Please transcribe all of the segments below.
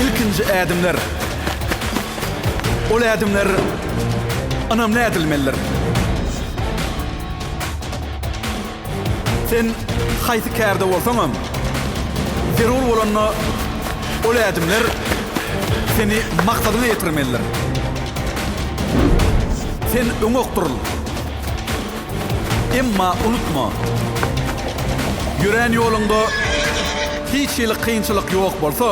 Ilkinji ädimler. Ol ädimler ynamly ädilmelidir. Sen haýsy kärde bolsaňam, zerur bolanda ol ädimler seni maksadyňa ýetirmelidir. Sen öňe okduryl. Emma unutma, ýörän ýoluňda hiç hili kynçylyk ýok bolsa,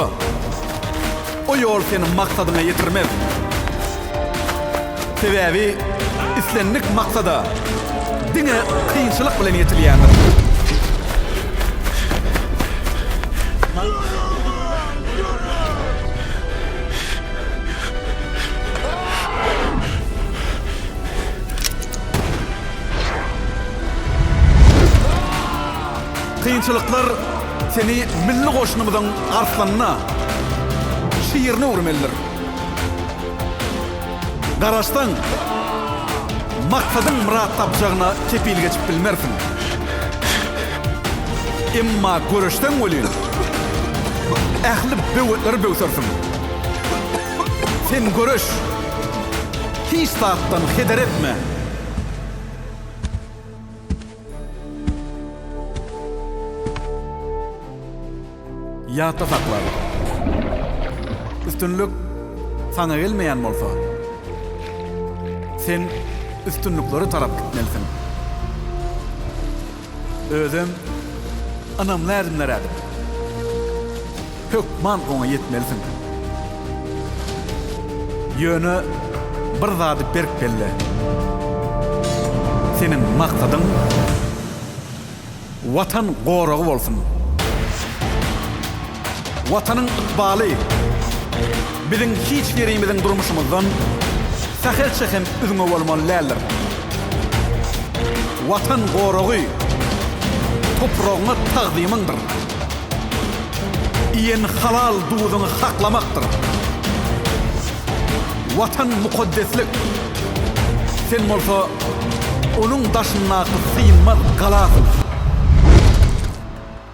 o ýol seni maksadyňa ýetirmez. Sebäbi islendik maksada diňe kynçylyk bilen ýetilýändir. Kynçylyklar seni milli goşunymyzyň arslanyna, şirine öwürmelidir. Garaşsaň, maksadyň myrat tapjagyna kepil geçip bilmersiň. Emma göreşseň welin, ähli böwetleri böwsersiň. Sen göreş! Hiç zatdan heder etme. Ýatda sakla. Üstünlik saňa gelmeýän bolsa, sen üstünliklere tarap gitmelisiň. Özem ynamly ädimler ädip, hökman oňa ýetmelisiň. Ýöne bir zady berk belle, seniň maksadyň Watan goragy bolsun! Watanyň ykbaly biziň hiç birimiziň durmuşymyzdan sähelçe hem üzňe bolmaly däldir. Watan goragy topragyňa tagzymyňdyr. Iýen halal duzuňy haklamakdyr. Watan mukaddeslik. Sen bolsa onuň daşyndaky synmaz galasyň.